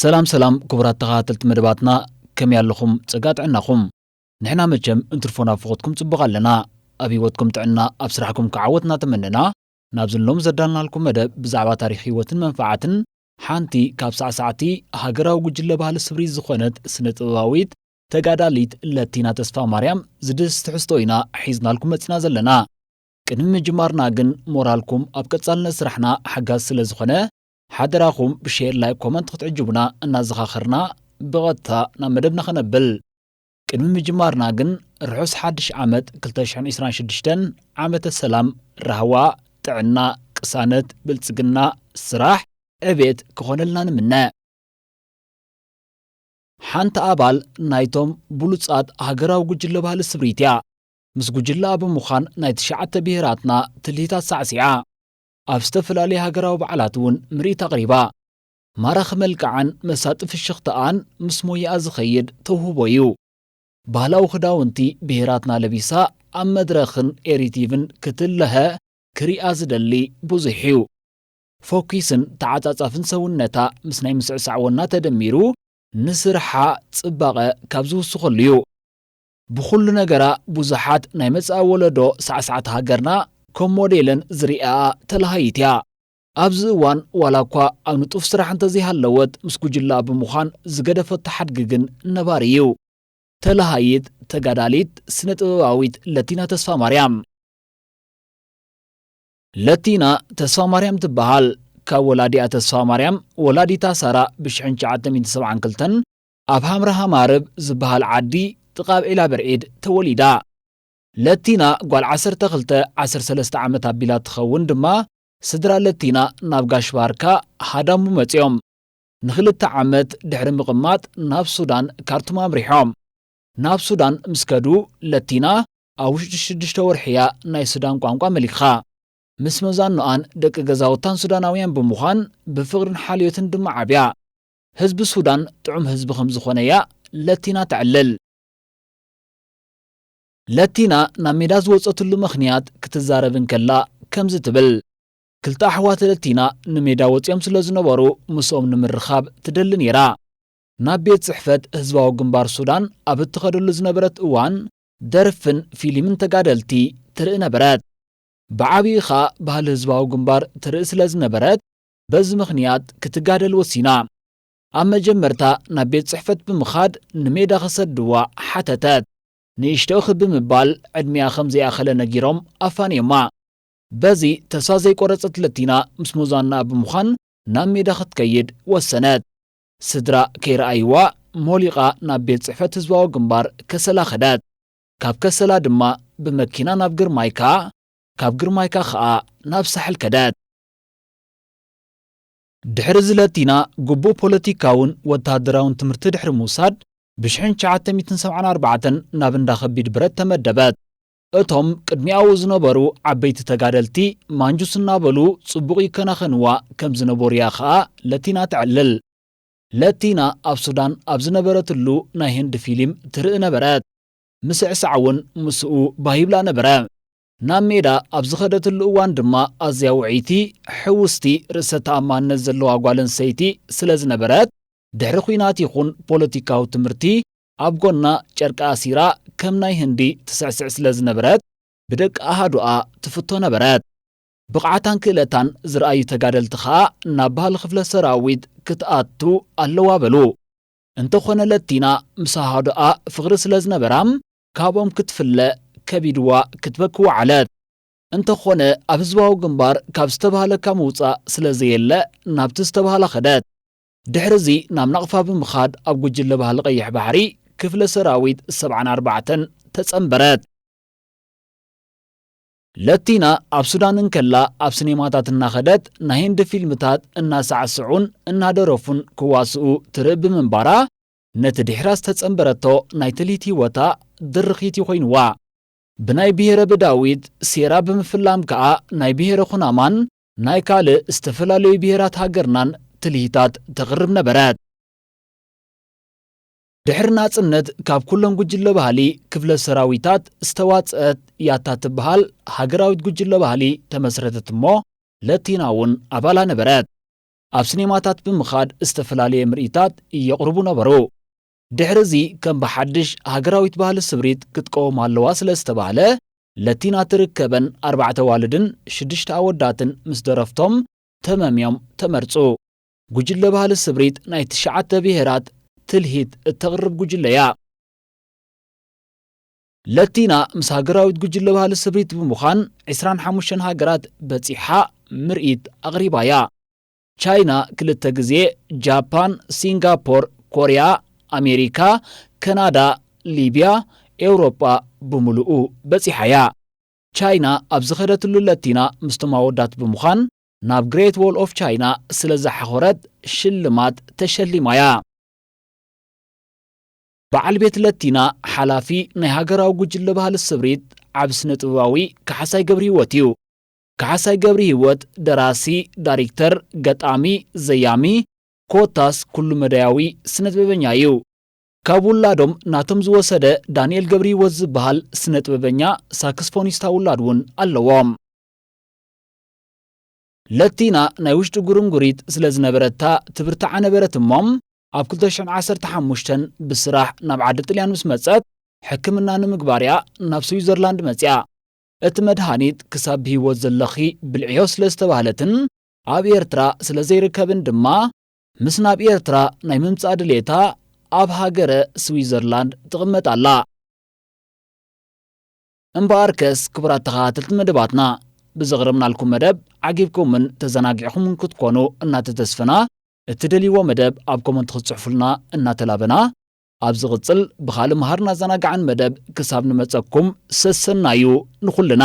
ሰላም ሰላም ክቡራት ተኸታተልቲ መደባትና ከመይ ኣለኹም ጸጋ ጥዕናኹም ንሕና መቸም እንትርፎና ፍኾትኩም ጽቡቕ ኣለና ኣብ ህይወትኩም ጥዕና ኣብ ስራሕኩም ክዓወት እናተመነና ናብዚ ሎም ዘዳልናልኩም መደብ ብዛዕባ ታሪክ ህይወትን መንፋዓትን ሓንቲ ካብ ሳዕሳዕቲ ሃገራዊ ጉጅለ ባህሊ ስብሪት ዝኾነት ስነ-ጥበባዊት ተጋዳሊት ለቲና ተስፋማርያም ዝድህስስ ትሕዝቶ ኢና ሒዝናልኩም መጺና ዘለና። ቅድሚ ምጅማርና ግን ሞራልኩም ኣብ ቀጻልነት ስራሕና ሓጋዚ ስለ ዝኾነ ሓደራኹም ብሼር ላይክ ኮመንት ክትዕጅቡና እናዘኻኸርና ብቐጥታ ናብ መደብና ከነብል ቅድሚ ምጅማርና ግን ርሑስ ሓድሽ ዓመት 2026 ዓመተ ሰላም፣ ራህዋ፣ ጥዕና፣ ቅሳነት፣ ብልጽግና፣ ስራሕ፣ ዕቤት ክኾነልና ንምነ። ሓንቲ ኣባል ናይቶም ብሉጻት ሃገራዊ ጉጅለ ባህሊ ስምሪት እያ። ምስ ጉጅለኣ ብምዃን ናይ ትሽዓተ ብሄራትና ትልሂታት ሳዕሲዓ ኣብ ዝተፈላለዩ ሃገራዊ በዓላት እውን ምርኢት ኣቕሪባ። ማራኺ መልክዓን መሳጢ ፍሽኽታኣን ምስ ሞያኣ ዝኸይድ ተውህቦ'ዩ። ባህላዊ ክዳውንቲ ብሄራትና ለቢሳ ኣብ መድረኽን ኤሪቲቪን ክትለሀ ክሪኣ ዝደሊ ብዙሕ'ዩ። ፈኲስን ተዓጻጻፍን ሰውነታ ምስ ናይ ምስዕሳዕ ወና ተደሚሩ ንስርሓ ጽባቐ ካብ ዝውስኸሉ'ዩ። ብኹሉ ነገራ ብዙሓት ናይ መጻኢ ወለዶ ሳዕሳዕቲ ሃገርና ከም ሞዴለን ዝሪኣኣ ተላሃዪት'ያ። ኣብዚ እዋን ዋላ እኳ ኣብ ንጡፍ ስራሕ እንተዘይሃለወት ምስ ጉጅለኣ ብምዃን ዝገደፈቶ ሓድጊ ግን ነባሪ እዩ። ተለሃይት ተጋዳሊት ስነ ጥበባዊት ለቲና ተስፋማርያም። ለቲና ተስፋማርያም ትበሃል። ካብ ወላዲኣ ተስፋማርያም ወላዲታ ሳራ ብ ሽሕን ትሽዓተ ሚእትን ሰብዓን ክልተን ኣብ ሃምረሃማርብ ዝበሃል ዓዲ ጥቃ ብ ዒላብርዒድ ተወሊዳ። ለቲና ጓል ዓሰርተ ክልተ ዓሰርተ ሰለስተ ዓመት ኣቢላ ትኸውን ድማ ስድራ ለቲና ናብ ጋሽ ባርካ ሃዳሙ መጺኦም። ንኽልተ ዓመት ድሕሪ ምቕማጥ ናብ ሱዳን ካርቱም ኣምሪሖም። ናብ ሱዳን ምስ ከዱ ለቲና ኣብ ውሽጢ ሽዱሽተ ወርሒ እያ ናይ ሱዳን ቋንቋ መሊኻ። ምስ መዛኖኣን ደቂ ገዛውታን ሱዳናውያን ብምዃን ብፍቕርን ሓልዮትን ድማ ዓብያ። ህዝቢ ሱዳን ጥዑም ህዝቢ ከምዝኾነ እያ ለቲና ተዕልል። ለቲና ናብ ሜዳ ዝወጸትሉ ምኽንያት ክትዛረብ እንከላ ከምዚ ትብል፣ ክልተ ኣሕዋት ለቲና ንሜዳ ወጺኦም ስለ ዝነበሩ ምስኦም ንምርኻብ ትደሊ ነይራ። ናብ ቤት ጽሕፈት ህዝባዊ ግንባር ሱዳን ኣብ እትኸደሉ ዝነበረት እዋን ደርፍን ፊሊምን ተጋደልቲ ትርኢ ነበረት። ብዓቢኡ ከኣ ባህሊ ህዝባዊ ግንባር ትርኢ ስለ ዝነበረት በዚ ምኽንያት ክትጋደል ወሲና። ኣብ መጀመርታ ናብ ቤት ጽሕፈት ብምኻድ ንሜዳ ክሰድዋ ሓተተት። ንእሽቶ ክብ ምባል ዕድሚኣ ከም ዘይኣኸለ ነጊሮም ኣፋንዮማ። በዚ ተስፋ ዘይቆረጸት ለቲና ምስ ሞዛናኣ ብምዃን ናብ ሜዳ ክትከይድ ወሰነት። ስድራ ከይረኣይዋ ሞሊቓ ናብ ቤት ጽሕፈት ህዝባዊ ግንባር ከሰላ ከደት። ካብ ከሰላ ድማ ብመኪና ናብ ግርማይካ፣ ካብ ግርማይካ ከኣ ናብ ሳሕል ከደት። ድሕሪ እዚ ለቲና ግቡእ ፖለቲካውን ወተሃደራውን ትምህርቲ ድሕሪ ምውሳድ ብሽሕን ትሽዓተ ሚእትን ሰብዓን ኣርባዕተን ናብ እንዳ ከቢድ ብረት ተመደበት። እቶም ቅድሚኣኡ ዝነበሩ ዓበይቲ ተጋደልቲ ማንጁስ እናበሉ ጽቡቕ ይከናኸንዋ ከም ዝነበሩ'ያ ከኣ ለቲና ተዕልል። ለቲና ኣብ ሱዳን ኣብ ዝነበረትሉ ናይ ህንዲ ፊሊም ትርኢ ነበረት። ምስዕሳዕ'ውን ምስኡ ባህ ይብላ ነበረ። ናብ ሜዳ ኣብ ዝኸደትሉ እዋን ድማ ኣዝያ ውዕይቲ፣ ሕውስቲ፣ ርእሰ ተኣማንነት ዘለዋ ጓል ኣንስተይቲ ስለ ዝነበረት፣ ድሕሪ ኲናት ይኹን ፖለቲካዊ ትምህርቲ ኣብ ጎና ጨርቂ ኣሲራ ከም ናይ ህንዲ ትስዕስዕ ስለ ዝነበረት ብደቂ ኣሃዱኣ ትፍቶ ነበረት። ብቕዓታን ክእለታን ዝርኣዩ ተጋደልቲ ከኣ ናብ ባህሊ ክፍለ ሰራዊት ክትኣቱ ኣለዋ በሉ። እንተኾነ ለቲና ምስ ኣሃዱኣ ፍቕሪ ስለ ዝነበራ ካብኦም ክትፍለ ከቢድዋ ክትበኪ ወዓለት። እንተኾነ ኣብ ህዝባዊ ግንባር ካብ ዝተብሃለካ ምውጻእ ስለ ዘየለ ናብቲ ዝተብሃላ ከደት። ድሕሪዚ ናብ ናቕፋ ብምኻድ ኣብ ጉጅለ ባህሊ ቀይሕ ባሕሪ ክፍለ ሰራዊት ሰብዓን ኣርባዕተን ተጸንበረት። ለቲና ኣብ ሱዳን እንከላ ኣብ ስኔማታት እናኸደት ናይ ህንዲ ፊልምታት እናሳዕስዑን እናደረፉን ክዋስኡ ትርኢ ብምንባራ ነቲ ድሒራ ዝተጸንበረቶ ናይ ትልሂት ህይወታ ድርኺት እዩ ኮይንዋ። ብናይ ብሄረ ብዳዊት ሴራ ብምፍላም ከኣ ናይ ብሄረ ኩናማን ናይ ካልእ ዝተፈላለዩ ብሄራት ሃገርናን ትልሂታት ተቕርብ ነበረት። ድሕሪ ናጽነት ካብ ኩለን ጉጅለ ባህሊ ክፍለ ሰራዊታት ዝተዋጽአት ያታ እትበሃል ሃገራዊት ጉጅለ ባህሊ ተመስረተት እሞ ለቲና እውን ኣባላ ነበረት። ኣብ ሲኔማታት ብምኻድ ዝተፈላለየ ምርኢታት የቕርቡ ነበሩ። ድሕሪ እዚ ከም ብሓድሽ ሃገራዊት ባህሊ ስብሪት ክትቀውም ኣለዋ ስለ ዝተባህለ፣ ለቲና ትርከበን ኣርባዕተ ኣዋልድን ሽዱሽተ ኣወዳትን ምስ ደረፍቶም ተመምዮም ተመርጹ። ጉጅለ ባህሊ ስብሪት ናይ ትሽዓተ ብሄራት ትልሂት እተቕርብ ጉጅለ እያ። ለቲና ምስ ሃገራዊት ጉጅለ ባህሊ ስብሪት ብምዃን ዕስራን ሓሙሽተን ሃገራት በጺሓ ምርኢት ኣቕሪባ'ያ። ቻይና ክልተ ግዜ፣ ጃፓን፣ ሲንጋፖር፣ ኮርያ፣ ኣሜሪካ፣ ከናዳ፣ ሊብያ፣ ኤውሮጳ ብምሉኡ በጺሓ'ያ። ቻይና ኣብ ዝኸደትሉ ለቲና ምስቶም ኣወዳት ብምዃን ናብ ግሬት ዎል ኦፍ ቻይና ስለ ዝሓኾረት ሽልማት ተሸሊማ'ያ። በዓል ቤት ለቲና ሓላፊ ናይ ሃገራዊ ጉጅለ ባህሊ ስብሪት ዓቢ ስነ-ጥበባዊ ካሕሳይ ገብርሂወት እዩ። ካሕሳይ ገብርሂወት ደራሲ፣ ዳሪክተር፣ ገጣሚ፣ ዘያሚ ኮታስ ኩሉ-መዳያዊ ስነ-ጥበበኛ እዩ። ካብ ውላዶም ናቶም ዝወሰደ ዳንኤል ገብርሂወት ዝበሃል ስነ-ጥበበኛ ሳክስፎኒስታ ውላድ እውን ኣለዎም። ለቲና ናይ ውሽጢ ጉርንጉሪት ስለ ዝነበረታ ትብርትዓ ነበረት እሞ ኣብ ክልተ ሽሕን ዓሰርተ ሓሙሽተን ብስራሕ ናብ ዓዲ ጥልያን ምስ መጸት ሕክምና ንምግባር እያ ናብ ስዊዘርላንድ መጺኣ። እቲ መድሃኒት ክሳብ ብህይወት ዘለኺ ብልዕዮ ስለ ዝተባህለትን ኣብ ኤርትራ ስለ ዘይርከብን ድማ ምስ ናብ ኤርትራ ናይ ምምጻእ ድሌታ ኣብ ሃገረ ስዊዘርላንድ ትቕመጥ ኣላ። እምበኣርከስ ክቡራት ተኸታተልቲ መደባትና ብዘቕረብናልኩም መደብ ዓጊብኩምን ተዘናጊዕኹምን ክትኮኑ እናተተስፈና እትደልይዎ መደብ ኣብ ኮመንት ክትጽሕፉልና እናተላበና ኣብ ዝቕጽል ብኻልእ መሃርን ኣዘናጋዕን መደብ ክሳብ ንመጸኩም ሰሰናዩ ንኹልና።